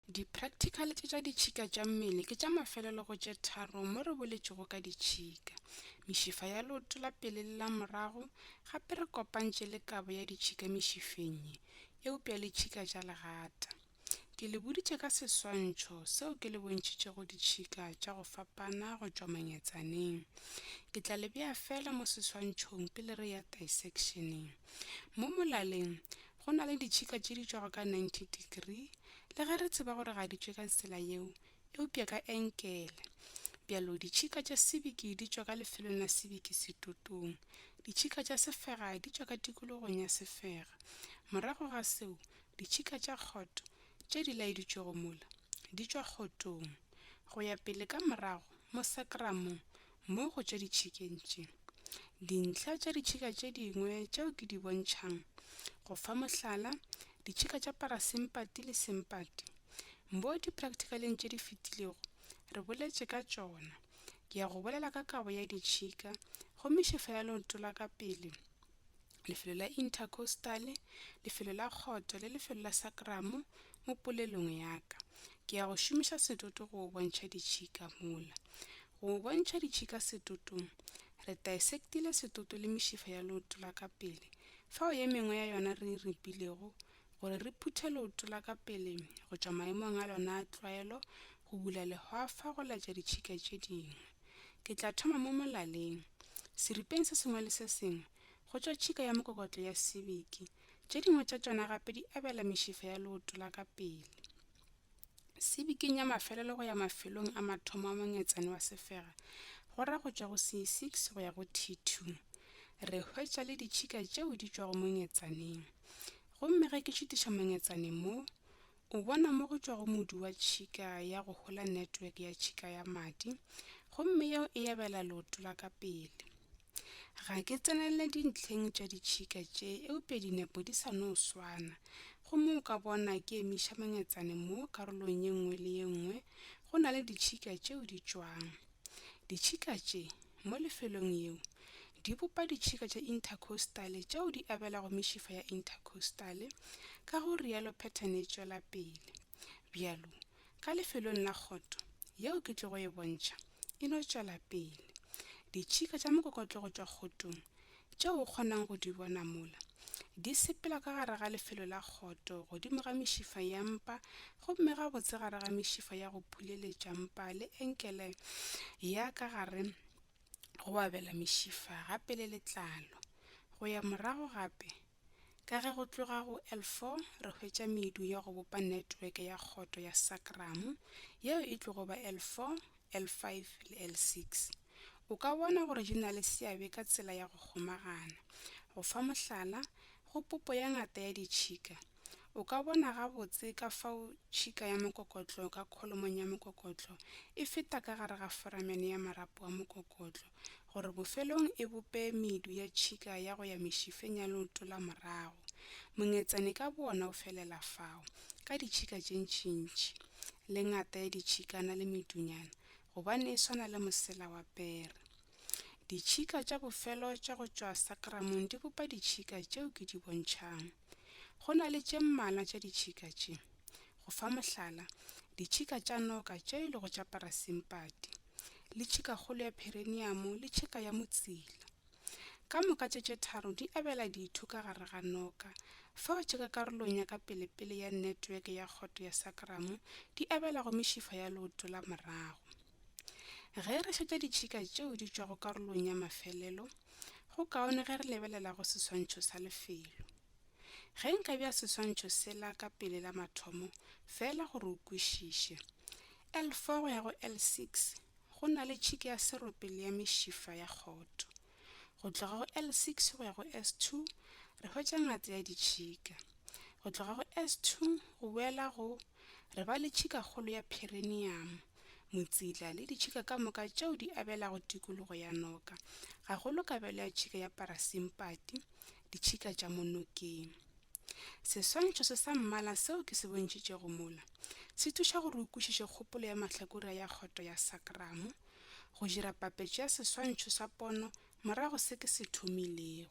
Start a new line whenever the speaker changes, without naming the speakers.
Di-practical tše tša ditšhika tša mmele ke tša mafelelo go tše tharo mo re boletšego ka ditšhika, mešifa ya leoto la pele le la morago, gape re kopantše le kabo ya ditšhika mešifeng ye, eupša le tšhika tša legata. Ke le boditše ka seswantšho seo ke le bontšhitšego ditšhika tša go fapana go tšwa manyetsaneng. Ke tla le bea feela mo seswantšhong pele re ya disectioneng. Mo molaleng, Go na le ditšhika tše di tšwago ka 90 degree, le ge re tseba gore ga di tšwe ka tsela yeo, eupša ka enkele. Bjalo, ditšhika tša sebiki di tšwa ka lefelong la sebiki setotong. Ditšhika tša sefega di tšwa ka tikologong ya sefega. Morago ga seo, ditšhika tša kgoto, tše di laeditšwego mola, di tšwa kgotong. Go ya pele ka morago mo sakramong, Mo go tša ditšhikeng tše, dintlha tša ditšhika tše dingwe tšeo ke di bontšhang, go fa mohlala, ditšhika tša parasimpati le simpati, mo diprakthikaleng tše di fetilego re boletše ka tšona. Ke ya go bolela ka kabo ya ditšhika, gomme šefo ya leoto la ka pele lefelo la intercostale lefelo la kgoto le lefelo la sakramo mo polelong ya ka ke ya go šomiša setoto go go bontšha ditšhika mola go go bontšha ditšhika setotong re dissectile setoto le mešifa ya leoto la ka pele fao ye mengwe ya yona re e ripilego gore re phuthe leoto la ka pele go tšwa maemong a lona a tlwaelo go bula lehwafa go laetša ditšhika tše dingwe ke tla thoma mo molaleng seripeng se sengwe le se sengwe go tšwa tšhika ya mokokotlo ya sibiki tše dingwe tša tšona gape di abela mešifa ya leoto la ka pele sibiking ya mafelelo go ya mafelong a mathomo a monyetsane wa sefega go ra go tšwa go c6 go ya go t2 re hwetša le ditšhika tšeo di tšwago monyetsaneng gomme ge ke šutiša monyetsaneng mo O bona mo go tšwa go modu wa tšhika ya go hola netweke ya tšhika ya madi, gomme yeo e yabela leoto la ka pele. Ga ke tsenelele dintlheng tša ditšhika tše, eupša dinepo di sa no swana. Gomme o ka bona ke emiša mangetsane mo karolong ye nngwe le ye nngwe go na le ditšhika tšeo di tšwang. Ditšhika tše, mo lefelong yeo, Di bopa ditšhika tša inthakhostale tšeo di abelago mešifa ya inthakhostale, ka go rialo phetane e tšwela pele. Bjalo, ka lefelong la kgoto, yeo ke tlogo e bontšha, e no tšwela pele. Ditšhika tša mokokotlo go tšwa kgotong, tšeo o kgonang go di bona mola, di sepela ka gare ga lefelo la kgoto godimo ga mešifa ya mpa gomme gabotse gare ga mešifa ya go phuleletša mpa le enkele ya ka gare go abela mešifa gape le letlalo go ya morago gape ka ge go tloga go l4 re hwetša medu ya go bopa netweke ya kgoto ya sacrum yeo e tlogo ba l4 l5 le l6 o ka bona gore di na le seabe ka tsela ya go kgomagana go fa mohlala go popo ya ngata ya ditšhika O ka bona gabotse ka fao tšhika ya mokokotlo ka kholomong ya mokokotlo e feta ka gare ga foramene ya marapo a mokokotlo gore bofelong e bope medu ya tšhika ya go ya mešifeng ya leoto la morago. Mongetsane ka boona o felela fao, ka ditšhika tše ntšintši, le ngata ya ditšhikana le medunyana, gobane e swana le mosela wa pere. Ditšhika tša bofelo tša go tšwa sakramong di bopa ditšhika tšeo ke di bontšhang. Go na le tše mmalwa tša ditšhika tše. Go fa mohlala, ditšhika tša noka tše e lego tša parasimpati, le tšhikakgolo ya phereniamo le tšhika ya motsila. Ka moka tše tše tharo di abela ditho ka gare ga noka, fa o tšheka karolong ya ka pelepele ya netweke ya kgoto ya sakramo di abela go mešifa ya leoto la morago. Ge re šetša ditšhika tšeo di tšwago karolong ya mafelelo, go kaone ge re lebelela go seswantšho sa lefelo. Ge nka bja seswantšho sela ka pele la mathomo feela gore o kwešiše, L4 go ya go L6 go na le tšhika ya serope le ya mešifa ya kgoto. Go tloga go L6 go ya go S2 re hwetša ngata ya ditšhika. Go tloga go S2 go boela go re ba le tšhikakgolo ya phereniamo, motsila le ditšhika ka moka tšeo di abelago tikologo ya noka, gagolo kabelo ya tšhika ya parasimpati, ditšhika tša mo nokeng. Seswantšho se sa mmala seo ke se bontšhitšego mola se thuša gore o kwešiše kgopolo ya mahlakore a ya kgoto ya sakramo, go dira papetšo ya seswantšho sa pono morago se ke se thomilego.